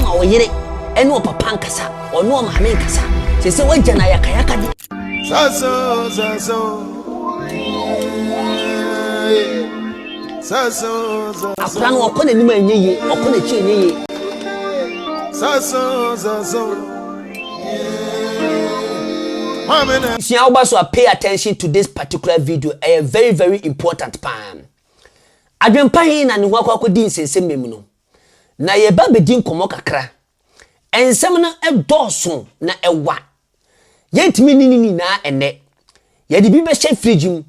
Ma wo yere ne ɔpapa nkasa, ɔne ɔmaame nkasa. Ɛsɛ sɛ wagya no ayakayakadeɛ. Saso, saso, saso, saso. Akora no ɔkɔ n'anim a ɛnyɛ yie, ɔkɔ n'akyi a ɛnyɛ yie. Saso, saso, maame na. Sua wo ba so a pay attention to this particular video, ɛyɛ very very important paa. Adwempa he na ne ho akɔ akodi nsɛnsɛmmɛ mu no, na yɛreba abedi nkɔmmɔ kakra. Nsɛm no dɔɔso na ɛwa. Yɛrentumi nni ne nyinaa nnɛ. Yɛde bi bɛhyɛ fridge mu.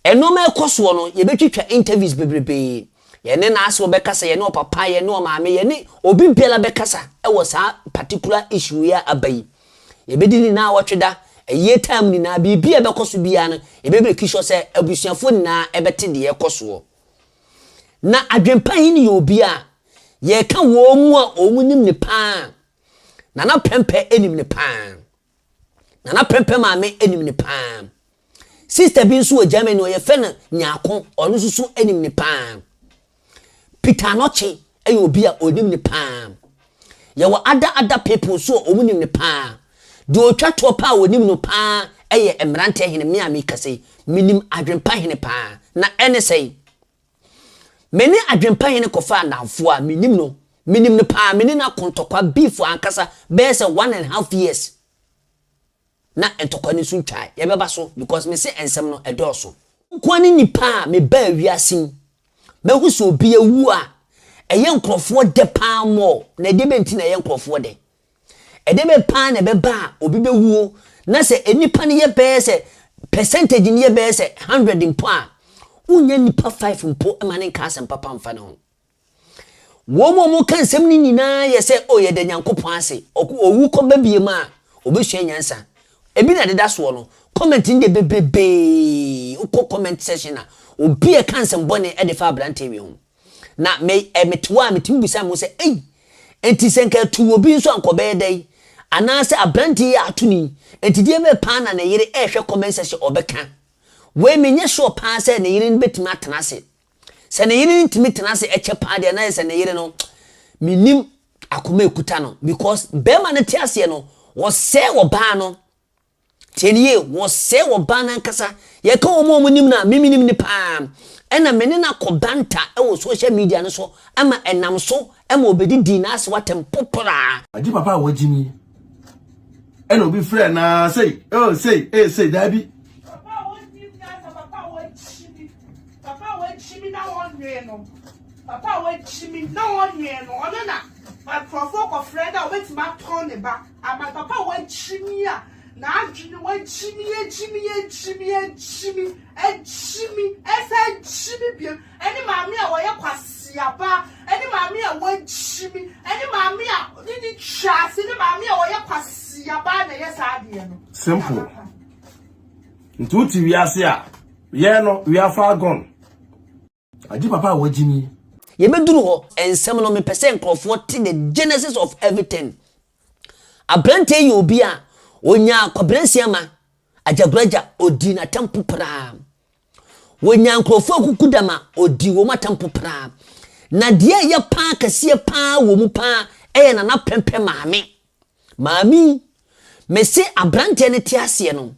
Nnoɔma a ɛkɔ soɔ no, yɛbɛtwitwa interviews bebrebee. Yɛne Naasew bɛkasa, yɛne Ɔpapa, yɛne Ɔmaame, yɛne obi biara bɛkasa wɔ saa particular issue yi a aba yi. Yɛbɛdi ne naawɔtwe da, ayie time nyinaa, biribi a ɛbɛkɔ so biara no, yɛbɛ make sure sɛ abusuafoɔ nyinaa bɛte deɛ ɛkɔ soɔ. Na adwempa he no yɛ obi a, yɛreka wɔn mu a wɔn nim ne paa. Nana Prɛmpɛ nim ne paa. Nana Prɛmpɛ maame nim ne paa. Sister bi nso wɔ Germany, wɔfrɛ no Nyarko, ɔno nso so nim no paa. Peter Anokye yɛ obi a ɔnim no paa. Yɛwɔ other other people nso a wɔnim no paa. Deɛ ɔtwa toɔ paa a wɔnim no paa yɛ Mmeranteɛ Hene, me a merekasa yi. Menim Adwempa Hene paa. Na ɛne sɛn? Me ne Adwempa Hene kɔfaa nnamfoɔ a menim no, menim no paa, me ne no ako ntɔkwa, beef ankasa, bɛyɛ sɛ one and half years. na ntɔkwa no nso ntwae, yɛbɛba so because mese nsɛm no ɛdɔɔso. Me nkoa ne nipa a me baa wiase mu mɛhu sɛ obi awu a ɛyɛ nkorɔfoɔ dɛ paa more na ɛdeɛ bɛ nti na ɛyɛ nkorɔfoɔ dɛ? Ɛdeɛ bɛ paa na ɛbɛba a obi bɛwuo na sɛ nnipa no yɛ bɛyɛ sɛ percentage no yɛ bɛyɛ sɛ hundred mpo a wonnya nnipa five mpo ma no nka asɛm papa mfa ne ho. Wɔn a wɔka nsɛm no nyinaa yɛ sɛ, O, yɛda Nyankopɔn ase. Ɔko, owu kɔ ba bio ma a, wɔbɛsua nyansa. Ebi na ɛdeda soɔ no. Comment no deɛ bebrebee, wokɔ comment section a, obi ɛka nsɛm bɔne de fa abranteɛ wei ho. Na me, ɛ, mete hɔ a, metumi bisa me ho sɛ, ei, enti sɛ nka atuu obi nso a nka ɔbɛyɛ dɛn? Anaasɛ abranteɛ yi a ato no yi, enti deɛ bɛn paa na ne yere rehwɛ comment section ɔbɛka? Wei, menyɛ sure paa sɛ ne yere no bɛtumi atena ase Sɛ ne yere ntumi tena ase ɛkyɛ paa deɛ na yɛ sɛ ne yere no me nim akoma ɛkuta no because bɛɛma no te aseɛ no wɔsɛɛ ɔbaa no tie no yie wɔsɛɛ ɔbaa no ankasa yɛ ka wɔn a wɔn nim no a me me nim no paa ɛna me ne no akɔ banta ɛwɔ social media no so ama ɛnam so ɛma ɔbɛdi dii no ase watɛm potoraa. Agye papa a wagye nie. ɛna obi frɛ na sei oh sei eh sei daabi. papa a wɔnni mi asa papa a wɔakyi mi papa a wɔakyi mi na wɔnwee no papa a wɔakyi mi na wɔnwee no ɔno na nkurɔfoɔ kɔfrɛ dɛ wɔbɛtumi atɔn ne ba ama papa a wɔakyi mi a n'adwene wɔakyi mi akyi mi akyi mi akyi mi akyi mi ɛsɛ akyi mi biem. Ɛne maame a ɔyɛ kwaseaba, ɛne maame a wagyimi, ɛne maame a ne ne twaase, ne maame a ɔyɛ kwaseaba na ɛyɛ saa adeɛ no. Simple. Nti wote wiase a, yɛn no, we are far gone. Agye papa a wagyimi. Yɛbɛduru hɔ, nsɛm no mepɛ sɛ nkurɔfoɔ te the genesis of everything. Aberanteɛ yɛ obi a, ɔnyaa kwaberansia ma, agyagoragya, ɔdii n'atampo praa. Wɔnyaa nkurɔfoɔ akuku da ma ɔdii wɔn atampo paa. Na deɛ ɛyɛ paa kɛseɛ paa wɔ mu paa yɛ Nana Prɛmprɛ maame. Maame yi, mese aberanteɛ no te aseɛ no,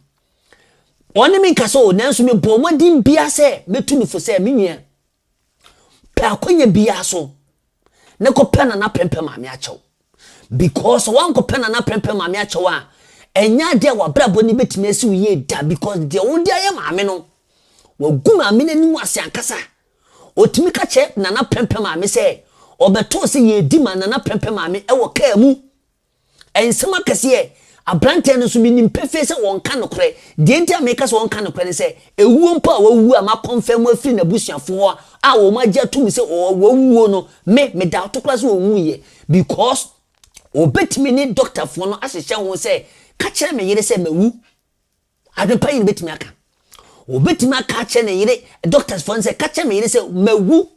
ɔne me nkasa o, nanso mebɔɔ mmɔden biara sɛ mɛtu no fo sɛ, me nua, Pɛ akwanya biara so na kɔpɛ Nana Prɛmpɛ Maame Akyɛw because sɛ woankɔpɛ Nana Prɛmpɛ Maame Akyɛw a, ɛnyɛ adeɛ a w'abrabɔ no bɛtumi asi wo yie da because deɛ wode ayɛ maame no, wagu maame no anim ase ankasa. Ɔtumi ka kyerɛ Nana Prɛmpɛ Maame sɛ ɔbɛtoo sɛ yɛredi ma Nana Prɛmpɛ Maame wɔ kaa mu Nsɛm akɛseɛ. Aberanteɛ no nso, menim pefee sɛ ɔnka nokorɛ. Deɛ nti a meka sɛ ɔnka nokorɛ ne sɛ, ɛwuo mpo a wawu a makɔnfɛm afiri n'abusuafoɔ hɔ a wɔn agye atom sɛ wawuo no, me, me daoto koraa sɛ ɔnwuiɛ. Because wɔbɛtumi ne dɔktafoɔ no ahyehyɛ ho sɛ, ka kyerɛ me yere sɛ mawu. Adwen pa yi na obetumi aka. Obetumi aka akyerɛ ne yere, doctors fo no sɛ, ka kyerɛ me yere sɛ mawu.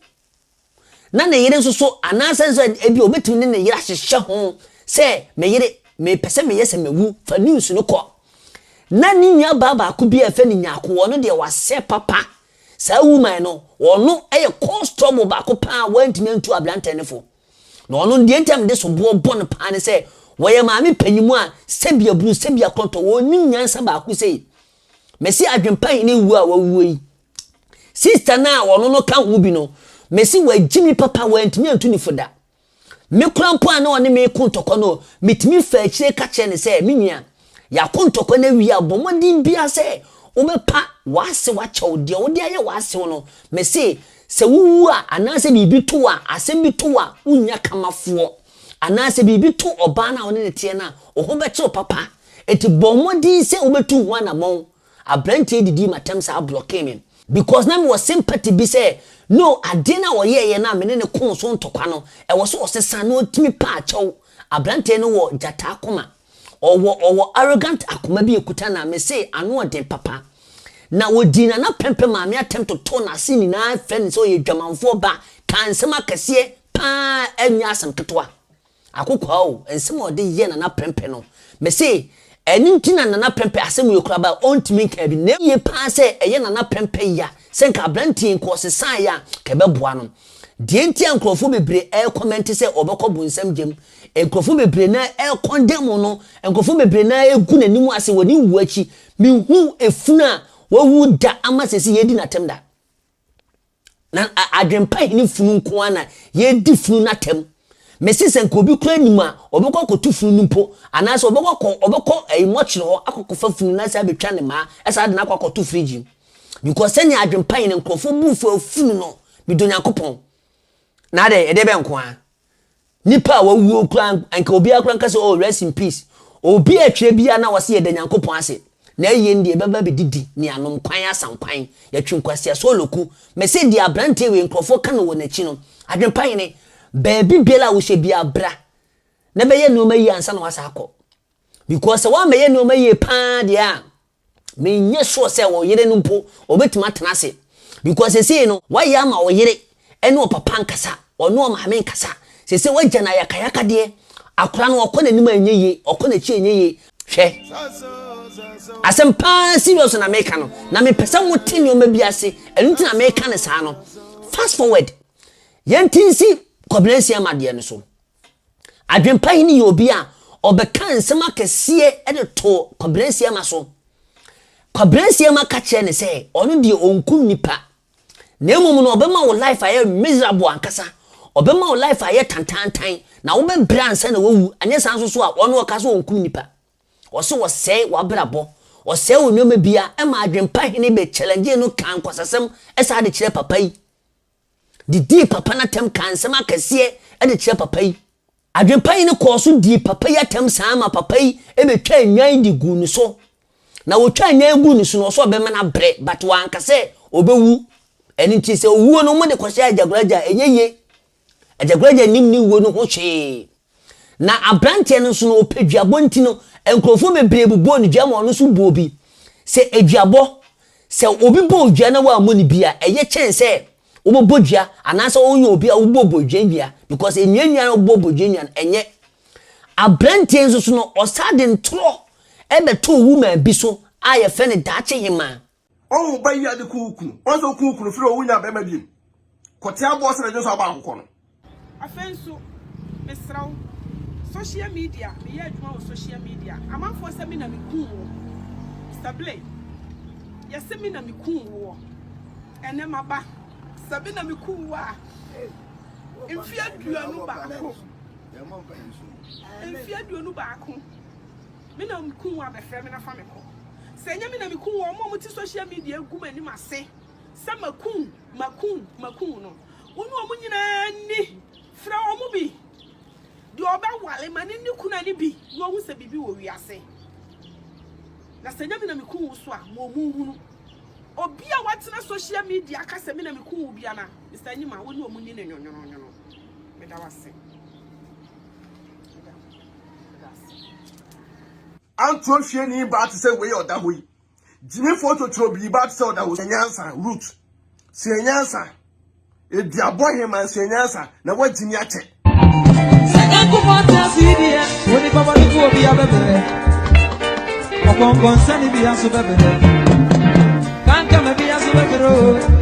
Na ne yere nso so, anaasɛ nso ebi obetumi ne ne yere ahyehyɛ ho sɛ, me yere, mepɛ sɛ meyɛ sɛ mawu, fa news no kɔ. Na ne nua baa baako bi a yɛfrɛ no Nyako, ɔno deɛ wasɛ papa. Saa woman no, ɔno yɛ cause trouble baako paa a wantumi antu abrantɛ no fo. Na ɔno deɛ nti a mede soboɔ bɔ no paa ne sɛ, wɔyɛ maame panyinmu a sɛbi aburo, sɛbi akɔntɔ, wɔnnim nyansa baako sei. Mese Adwempa Hene wuo a wawuo yi, sista no a wɔno no ka ho bi no, mese wagye me papa, wantumi antu ne fo da. Me kora mpo a na ɔne me reko ntɔkwa no, metumi faa akyire ka kyerɛ no sɛ, me nua, Yɛako ntɔkwa no awie a, bɔ mmɔden biara sɛ wobɛpa w'asew akyɛ wo. Deɛ wode ayɛ w'asew no, mese, sɛ wowu a, anaasɛ biribi to wo a, asɛm bi to wo a, wonnya kamafoɔ. Anaasɛ biribi to ɔbaa no a wo ne no teɛ no a, wo ho bɛkyere wo papa. Enti bɔ mmɔden sɛ wobɛtu ho anammɔn. Aberanteɛ yi didii m'atɛm saa, blɔkee me. Because na mewɔ sympathy bi sɛ, no, adeɛ no a ɔyɛeɛ no a me ne no koo so ntɔkwa no, ɛwɔ sɛ ɔsesa na ɔtumi pa akyɛw. Aberanteɛ no wɔ gyata akoma. Ɔwɔ ɔwɔ arrogant akoma bi ekuta na me se ano ɔden papa na ɔdii nana pɛmpɛ maame atɛm totoo nase nyinaa fɛ ne sɛ ɔyɛ dwamanfoɔ ba kaa nsɛm akɛseɛ paa ɛnyɛ asɛm ketewa akokoaa o nsɛm a ɔde yɛɛ nana pɛmpɛ no me se ɛno nti na nana pɛmpɛ asɛm yɛ kura ba ɔntumi nkaa bi na ɛyɛ paa sɛ ɛyɛ nana pɛmpɛ ya sɛ nka abranteɛ nka ɔsesaeɛ a nka ɛbɛboa no. Deɛ nti a nkorɔfoɔ bebree ɛrekɔmɛnte sɛ ɔbɛkɔ bonsam gyam, nkorɔfoɔ bebree no ara ɛrekɔndɛmo no, nkorɔfoɔ bebree no ara ɛregu n'anim ase wɔ ne wuo akyi, menhuu efunu a wawu da ama seesei yɛredi no atɛm da. Na adwempa hene funu nko ara na yɛredi funu no atɛm. Mese sɛ nka obi koraa nim a, ɔbɛkɔ akɔtu funu no mpo, anaasɛ ɔbɛkɔ akɔ, ɔbɛkɔ ɛyi mɔkyere hɔ akɔkɔfa funu no asan abɛtwa ne mmaa, ɛsan de no akɔ akɔto fridge mu. Because sɛnea adwen pa yi na nkurɔfoɔ bu so afunu no, medɔ Nyankopɔn. Na adɛn, ɛdeɛ bɛn nko ara? Nnipa a wɔawuo koraa, anka obiara koraa nka sɛ, oh, rest in peace. Obi a ɛtwerɛ biara na wɔse yɛda Nyankopɔn ase. Na ayie no deɛ yɛbɛba abɛdidi, ne anom kwan asa nkwan. Yɛtwe nkwasea so ɔlɔku. Mese deɛ aberanteɛ wei nkurɔfoɔ ka no wɔ n'akyi no, adwen pa hene, baabi biara a wohyɛ biara bra na bɛyɛ nnoɔma yie ansa na woasan akɔ. Because sɛ woammɛyɛ nnoɔma yie pa ara deɛ a, Menyɛ sure sɛ ɔyere no mpo ɔbɛtumi atena ase because seesei no wayɛ ama ɔyere ne ɔpapa nkasa, ɔne ɔmaame nkasa, seesei wagya no ayakayakadeɛ, akwadaa no ɔkɔ n'anim a ɛnyɛ yie, ɔkɔ n'akyi a ɛnyɛ yie. Hwɛ! Asɛm pa ara serious na meka no, na mepɛ sɛ mote nneɛma bi ase, ɛno nti na meka no saa no. Fast forward, yɛnte nsi Kwabelansia Madeɛ no so. Adwempa hene yɛ obi a ɔbɛkaa nsɛm akɛseɛ de too Kwabrasiama so. Kwabrasiama ka kyerɛɛ no sɛ ɔno deɛ ɔnku nnipa na mmom no ɔbɛma wo life ayɛ miserable ankasa, ɔbɛma wo life ayɛ tantaantan na wobɛbrɛ ansa na wawu, anyɛ saa nso so a ɔno ɔka sɛ ɔnkum nnipa. Ɔse wɔsɛe w'abrabɔ, ɔsɛe wo nneɛma biara, ɛma Adwempa hene bɛ challengee no kaa nkwasasɛm saa de kyerɛɛ papa yi. de dii papa no atɛm kaa nsɛm akɛseɛ de kyerɛɛ papa yi. Adwempa yi no kɔɔ so dii papa yi atɛm saa ma papa yi bɛtwaa nnwan de guu ne so. Na wɔtwaa nnwan yi guu ne so no, ɔsɛ ɔbɛma no abrɛ but wanka sɛ ɔbɛwu. Ɛno nti sɛ ɔwuo no, wɔde kɔhyɛ Agyagoragya a, ɛnyɛ yie. Agyagoragya nnim ne wuo no ho hwee. Na aberanteɛ no nso no, ɔpɛ duabɔ nti no, nkurɔfoɔ bebree bobɔɔ ne dua ma ɔno nso bɔɔ bi. Sɛ aduabɔ, sɛ obi bɔ wo dua na woammɔ no bi a, ɛyɛ kyɛn sɛ wobɛbɔ dua anaasɛ woyɛ obi a wobɔ bɔdwennua because nnuannua a wobɔ bɔdwennua no, ɛnyɛ. Aberanteɛ yi nso so no, ɔsan de ntorɔ bɛtoo woman bi so a yɛfrɛ no Daakye Hemaa. Ɔwo ba yi ade ku wo kunu. Ɔsɛ oku wo kunu firi owu nya bɛma biem. Kɔte aboɔ sɛ na dwene sɛ ɔba akokɔ no. Afei nso mesrɛ wo social media meyɛ adwuma wɔ social media amanfoɔ sɛ me na me kuu wo Mister Blay yɛse me na me kuu woɔ ɛnɛ maba sɛ me na me kuu wo a mfeɛ aduonu baako mfeɛ aduonu baako Me na me kun wo abɛfrɛ me na fa me kɔ. Sɛ ɛnyɛ me na me kun wo a, wɔn a wɔte social media agu m'anim ase sɛ makum wo, makum wo, makum wo no, wo ne wɔn nyinaa nni. Frɛ wɔn bi. Deɛ ɔbɛware ma ne ne kunu ani bi na wahu sɛ biribi wɔ wiase. Na sɛ ɛnyɛ me na me kun wo so a, ma wɔn nhunu. Obi a watena social media aka sɛ me na me kun wo bia na Mr. Anyima, wo ne wɔn nni no nwonwononwono. Meda wo ase. Antoa fieni baa te sɛ wei a ɔda hɔ yi. Gyimifoɔ totorobii baa te sɛ ɔda hɔ. Sua nyansa, Ruth. Sua nyansa. Eduabɔ heman, sua nyansa, na woagyimi akyɛ. Sɛ Nyankopɔn te ase yi deɛ, onipa bɔne to obi abɛbrɛ. Ɔkɔnkɔnsɛne bi aso bɛbrɛ. Kankama bi aso bɛbrɛ o.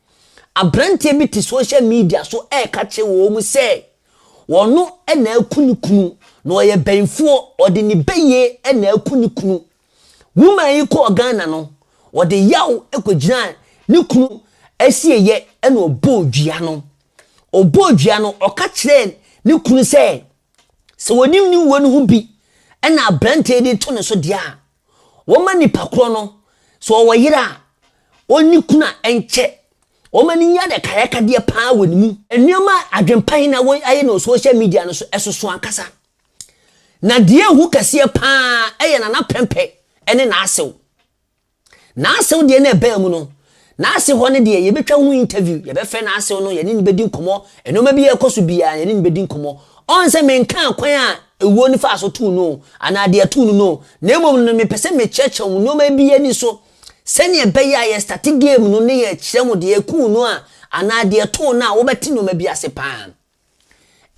Aberanteɛ bi te social media so reka kyerɛ wɔn sɛ ɔno na aku ne kunu, na ɔyɛ bɛnfoɔ, ɔde ne bɛyie na aku ne kunu. Woman yi kɔɔ Ghana no, ɔde yaw kɔgyinaa ne kunu asieeɛ na ɔbɔɔ dua no. Ɔbɔɔ dua no, ɔka kyerɛɛ ne kunu sɛ, sɛ ɔnim ne wuo no ho bi na aberanteɛ yi de to ne so deɛ a, Wɔmma nipa korɔ no, sɛ ɔwɔ yere a, ɔnni kunu a ɛnkyɛ. Wɔmma no nyi adakayakadeɛ pa ara wɔ ne mu. Nneɛma a adwempa yi na wɔayɛ no wɔ social media no so, ɛsoso ankasa. Na deɛ ɛhu kɛseɛ pa ara yɛ Nana Prɛmpɛ ne N'asew. N'asew deɛ na ɛbaa mu no, N'ase hɔ no deɛ, yɛbɛtwa ho interview, yɛbɛfrɛ n'asew no, yɛne no bɛdi nkɔmmɔ, nnoɔma bi a ɛrekɔ so biara, yɛne no bɛdi nkɔmmɔ. Ɔn sɛ menkaa kwan a ewuo no faa so too no o, anaa deɛ ɛtoo no no o, na mmom no mepɛ sɛ mekyerɛkyerɛ mo nnoɔma bi ani so, sɛdeɛ ɛbɛyɛ a yɛstate game no ne yɛkyerɛ mo deɛ ekuu no a, anaa deɛ ɛtoo no a, wobɛte nnoɔma bi ase pa ara.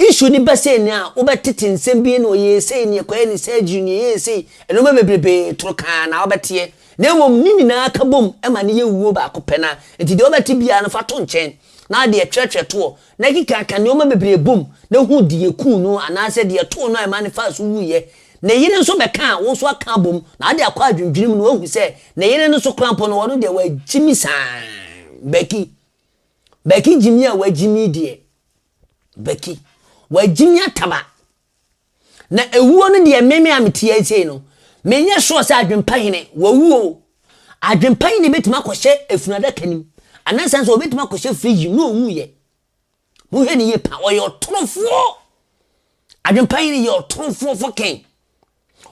Issue ne bɛ sei nea wo bɛ tete nsɛm bie na ɔyɛɛ sei nea kɔyɛ ne surgery nea ɛyɛɛ sei nnoɔma bebrebee toro kaa na wo bɛ teɛ na mmom ne nyinaa ka bom ma no yɛ wuo baako pɛ na nti deɛ wo bɛ te biara no fa to nkyɛn na deɛ twerɛ twerɛ toɔ na keka ka nnoɔma bebree bom na hu deɛ kuu no anaa sɛ deɛ too no a ɛma no faa so wuiɛ ne yere nso bɛ ka a wo nso aka abom na ade akɔ adwendwene mu na wahu sɛ ne yere no nso koraa mpo no ɔno deɛ wagyimi saa Becky Bɛki gyimi a wagyimi deɛ bɛki wagyimi ataba na ɛwuo no deɛ meme a mete yɛ sei no menyɛ sure sɛ adwempa hene wawu o adwempa hene bɛtumi akɔhyɛ efunu adaka nim anasa nso ɔbɛtumi akɔhyɛ fridge mu na ɔwu yɛ mohwɛ ne yie pa ɔyɛ ɔtorofoɔ adwempa hene yɛ ɔtorofoɔ fɔkɛn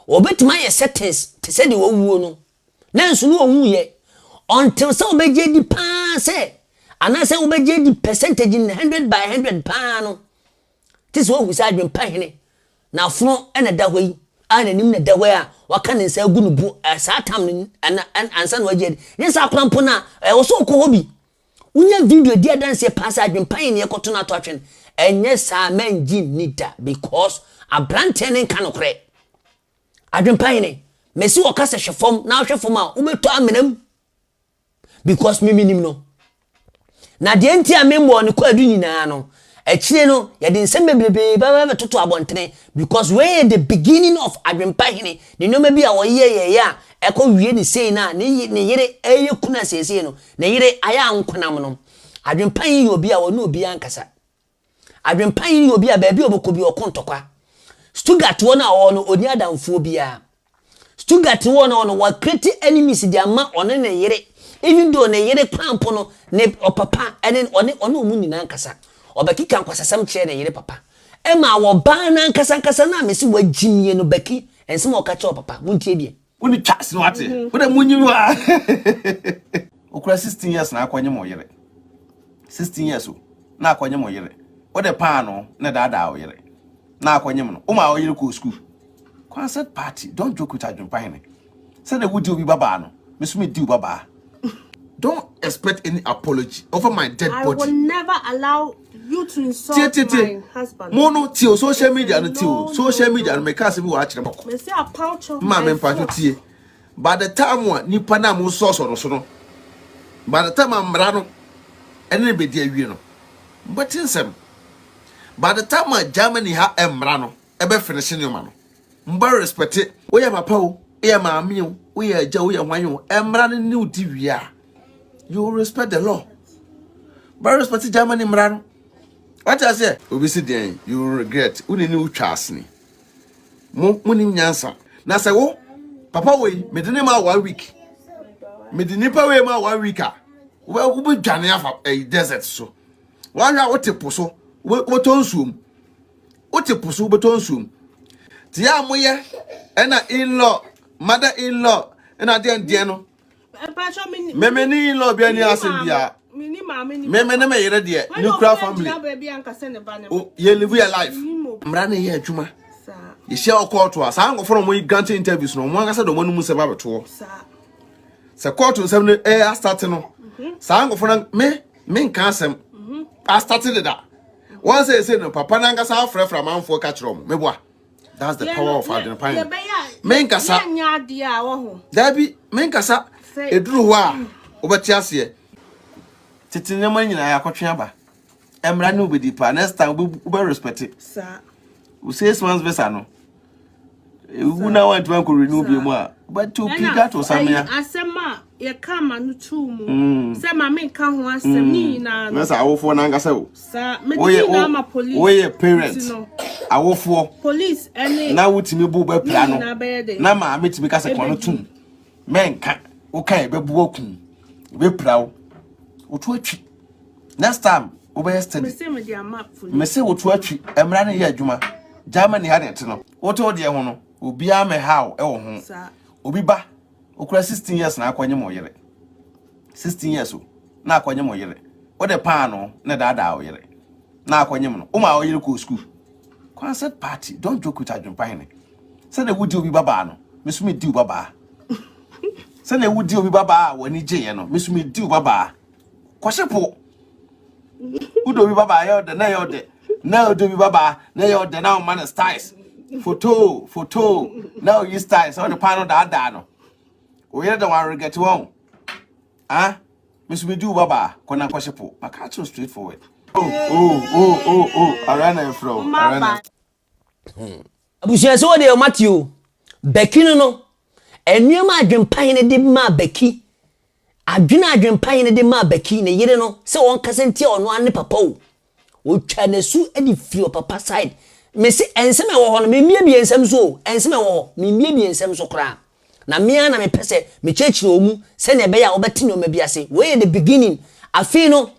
Wɔbɛtumi ayɛ settings te sɛ deɛ wawuo no, nanso na ɔwuiɛ, until sɛ wobɛgye adi paa sɛ, anaasɛ wobɛgye adi percentage no hundred by hundred paa no, te sɛ wahu sɛ adwempa hene na afono na ɛda hɔ yi, a n'anim na ɛda hɔ yi a waka ne nsa agu ne bo, saa tam no ansa na wagye adi, nyɛ saa kwan mpo no a, ɛwɔ sɛ ɔkɔ hɔ bi, Wonya video di adanseɛ paa sɛ adwempa yɛ nea ɛkɔto no ato atwene, ɛnyɛ saa a mɛngye nni da because abranteɛ no nka nokorɛ. Adwempa hene, mese wo ɔkasa hwɛ fam na wohwɛ fam a wobɛtɔ amena mu because me menim no. Na deɛ nti a memmɔɔ no kwaadu nyinaa no, Akyire no yɛde nsɛm bebrebe bɛba bɛtoto abɔntene because wei yɛ the beginning of Adwempa Hene ne nnoɔma bi a ɔyɛ yɛ yɛ a ɛkɔ wie ne sei no a ne ye ne yere ɛyɛ kunu a seesei no ne yere ayɛ ankonam no Adwempa Hene yɛ obi a ɔne obiara nkasa Adwempa Hene yɛ obi a baabi a ɔbɛkɔ bi ɔko ntɔkwa Stuttgart hɔ no a ɔwɔ no ɔnni adamfoɔ biara Stuttgart wɔ no hɔ no wa create enemies de ama ɔne ne yere even though ne yere kwan mpo no ne ɔpapa ɛne ɔne ɔne ɔmo nyinaa nkasa ɔbɛkeka nkwasasɛm kyerɛ ne yere papa ɛma wɔ baa no ankasa ankasa no a mesi wa gyimie no bɛki nsɛm a ɔka kyerɛ ɔpapa mo ntie deɛ wo ne twa sini wate wo de mo nyim wa okura 16 years na akɔ nyim ɔyere 16 years o na akɔ nyim ɔyere wo de paa no na daadaa ɔyere. na akɔnyem no woma ɔyere kɔɔ sukuu Kwansɛt party don't joke with adwempa hene sɛdeɛ wodi obi babaa no me so medi wo babaa don't expect any apology over my dead body I will never allow you to insult tie, tie, tie. my husband mo no tie o social media no tie o social media no meka asɛm bi wɔ akyerɛ mɔkɔ mesi apawkyɛw ma me mpakyɛw tie by the time a nipa no a mo nsɔsɔ no so no by the time a mmara no ɛne ne bɛdi awie no mobɛte nsɛm by the time a Germany ha mmra no ɛbɛ finish nneɛma no mbɔ respect woyɛ papa o woyɛ maame o woyɛ agya woyɛ hwan o mmra no new di wie a you respect the law bɛ respect Germany mmra no wate aseɛ obi si deɛn you regret wo ne ne wotwa asene mo mo nim nyansa na sɛ wo papa wei mede ne ma one week mede nipa wei ma one week a wobɛdwane afa eh, desert so Woahwɛ a wote po so, wobɛtɔ nsuo mu. Wote po so, wobɛtɔ nsuo mu. Te a moyɛ ɛna in-law, mother in-law, ɛna adeɛ ndeɛ no. Meme ne in-law bi ani asem biara. Meme ne me yere deɛ, nuclear family. Yɛ live your life. Mmara na ɛyɛ adwuma. Yɛhyia wɔ kɔɔto a, saa nkɔfo na wɔn grant interviews no, wɔn ankasa de wɔn anum nsɛm abɛtoɔ. Sɛ kɔɔto nsɛm no ɛyɛ asate no, saa nkɔfo na me menka asɛm mhm. astate deda wɔn sɛ ɛsɛ no papa no ankasa afrɛfrɛ amanfoɔ ka kyerɛ ɔmo meboa that's the power of adwene pan menkasa daabi menkasa ɛduru hɔ a mm. wobɛte aseɛ tete nneɛma nyinaa yɛakɔtwe aba mmara ne wobɛdi paa next time wobɛrespɛte wo six months visa no ewu na wɔntumi ankɔ renew bi mu a wobɛto piga to samea asɛm a yɛka ma no too mu mm. sɛ ma menka ho asɛm mm. ne nyinaa no sɛ awofoɔ no ankasa o woyɛ parent awofoɔ police ɛne na wotumi bo bɛpira no na maa metumi ka sɛ kɔno tom mɛnka woka ɛbɛboa kum bɛpira wo woto atwi next time wobɛyɛ study mese mede ama police mese woto atwi mmara no yɛ adwuma germany ha ne ɛte no wote wo deɛ ho no obiara mɛha wo ɛwɔ ho obi ba okura 16 years na akɔnye mo yere 16 years o na akɔnye mo yere wode paano na daadaa wo yere na akɔnye mo no woma wo yere kɔɔ school concert party don't joke with adwempa hene sɛdeɛ wodi obi babaa no meso medi wo babaa sɛdeɛ wodi obi babaa a w'ani gyeeɛ no meso medi wo babaa Kwasi po. Udo bi baba yo de na yo de. Na udo bi baba na yo de na man styles. Photo, photo. Na you styles so the panel da da no. O yere de wan regret won. Ah, Miss me do baba kona kwasi po. Maka too straightforward. Oh, oh, oh, oh, oh. Arana fro. Arana. Hmm. Abusua sɛ wɔde ɔmate o. Bɛki no no, nneɛma adwempa hene de maa Bɛki, adwene adwempa hene de maa Bɛki, ne yere no, sɛ wɔn kasa ntia ɔno ara ne papa o. Wɔtwa n'asu de firi ɔpapa side. Mese nsɛm a ɛwɔ hɔ no, memmiebie nsɛm so o, nsɛm a ɛwɔ hɔ, memmiebie nsɛm so koraa. Na me ara na mepɛ sɛ mekyerɛkyerɛ wɔn mu sɛnea ɛbɛyɛ a wɔbɛte nneɛma bi ase. Wei yɛ the beginning. Afei no,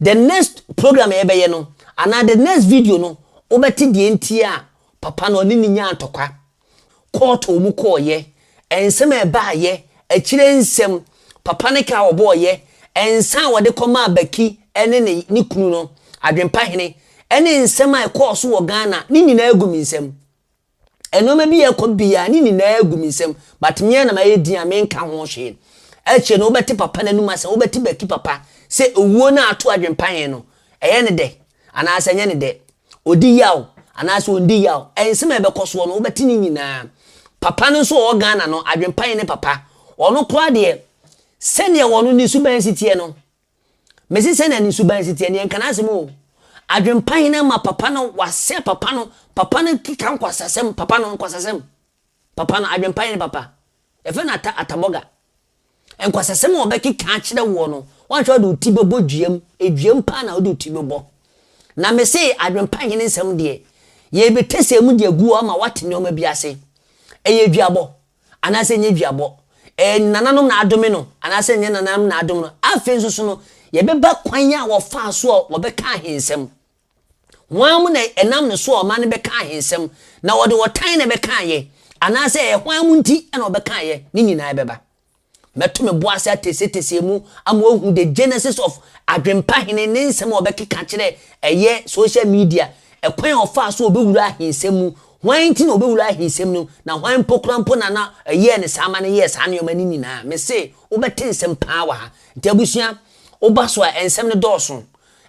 the next program a yɛbɛyɛ no, anaa the next video no, wobɛte deɛ nti a papa no ɔne ne nyaa ntɔkwa, court a wɔn kɔɔeɛ, nsɛm a ɛbaaeɛ, akyire nsɛm, papa no ka a wɔbɔɔeɛ, nsa a wɔde kɔmaa Baki ne ne ne kunu no, Adwempahene, ne nsɛm a ɛkɔɔ so wɔ Ghana, ne nyinaa gu me nsam. Nnoɔma bi yɛ kɔ biaa ne nyinaa gu me nsam but meaa na mayɛ din a menka ho hwee. Akyire no wobɛte papa no anum asɛm, wobɛte Baki papa sɛ owuo no a ato adwempa he no ɛyɛ ne dɛ anaa sɛ ɛnyɛ ne dɛ, ɔdi yaw anaa sɛ ɔndi yaw, nsɛm a ɛbɛkɔ soɔ no wobɛte ne nyinaa. Papa no nso a ɔwɔ Ghana no, adwempa he ne papa. Ɔno koraa deɛ sɛdeɛ ɔno ne suban si teɛ no, Mese sɛnea ne suban si teɛ no, yɛnka n'asɛm oo, adwempa he na ama papa no, wasɛe papa no, papa no keka nkwasasɛm, papa no, nkwasasɛm, papa no, adwempa he ne papa, yɛfrɛ no ata, atabɔga. Nkwasasɛm a ɔbɛkeka akyerɛ woɔ no, woanhwɛ a wode wo ti bɛbɔ duam, duam paa na wode wo ti bɛbɔ. Na mese adwempa he ne nsɛm deɛ, yɛɛbɛtɛsɛɛ mu de agu hɔ ama woate nnoɔma bi ase. Ɛyɛ duabɔ. anaasɛ ɛnyɛ duabɔ. Ɛyɛ nananom na adome no, anaasɛ ɛnyɛ nananom na adome no. Afei nso so no, yɛbɛba kwan a wɔfaa so a wɔbɛka ahensɛm. Hwan mu na ɛnam ne so a ɔman no bɛka ahensɛm, na wɔde ɔtan na ɛbɛkaeɛ, anaasɛ ɛyɛ hwan mu nti na wɔbɛkaeɛ, ne nyinaa bɛba. Mɛto me bo ase ateseteseɛ mu ama wahu the genesis of Adwempa Hene ne nsɛm a ɔbɛkeka akyerɛ ɛyɛ social media, ɛkwan a ɔfaa so a ɔbɛwura ahensɛm mu, hwan nti na ɔbɛwura ahensɛm no mu, na hwan mpo koraa mpo na na ɛyɛɛ ne saa ma no yɛɛ saa nneɛma no nyinaa. Mese wobɛte nsɛm paa wɔ ha. Nti abusua, woba so a nsɛm no dɔɔso.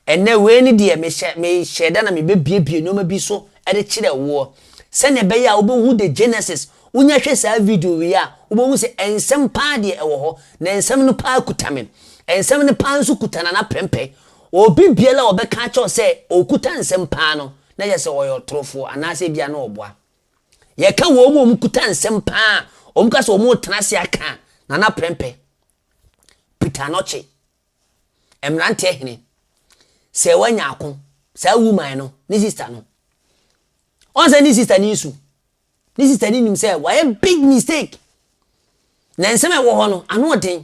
Ɛnnɛ, wei ne deɛ mehyɛ, mehyɛɛ da na mebebuebue nnoɔma bi so de kyerɛ woɔ, sɛdeɛ ɛbɛyɛ a wobɛhu The Genesis, wonya hwɛ saa video wei a, wobɛhu sɛ nsɛm paa deɛ ɛwɔ hɔ, na nsɛm no paa kuta me. Nsɛm no paa nso kuta Nana Prempeh. Obi biara a ɔbɛka akyerɛ wo sɛ ɔkuta nsɛm paa no, na kyerɛ sɛ ɔyɛ ɔtorofoɔ, anaasɛ ebia na ɔboa. Yɛka wɔn a wɔkuta nsɛm paa a wɔka sɛ wɔretena ase aka a, Nana Prempeh, Peter Anokye, Mmeranteɛ hene, sɛ wanya ako, saa woman no, ne sister no, ɔn sɛ ne sister no nsu. Ne sister no nim sɛ wayɛ big mistake. Na nsɛm a ɛwɔ hɔ no, ano ɔden.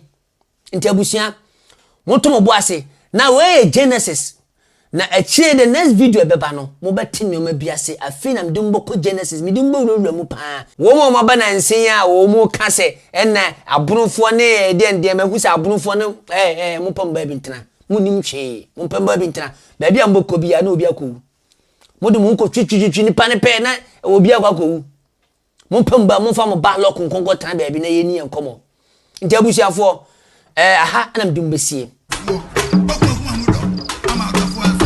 Nti abusua, moto mo bo ase. Na wei yɛ Genesis Na akyire the next video a ɛbɛba no mo bɛ te nnoɔma bi ase afei na mede mo bɛkɔ Genesis mede mo bɛ wura wura mu paa. Wɔn a wɔn aba nansa yi a wɔn ka sɛ ɛna abonofoɔ ne ɛɛ deɛn deɛn mahu sɛ abonofoɔ no ɛɛ ɛɛ mo mpɛ mo baabi ntena mo nnim hwee mo mpɛ mo baabi ntena baabi a mo bɛ kɔ biara na obi akɔ wu mo de mo ho kɔ twitwitwitwi nipa no pɛɛ na obi akɔ akɔ wu Mo mpamu ba a, momfa mo ba lɔko nkɔnkɔ tena baabi na yɛnni yɛn nkɔmmɔ. Nti abusuafoɔ, ɛɛ aha na mede mo bɛsie. Woɔ, ɔko ahu amu dɔ ama ɔdɔfoɔ aso.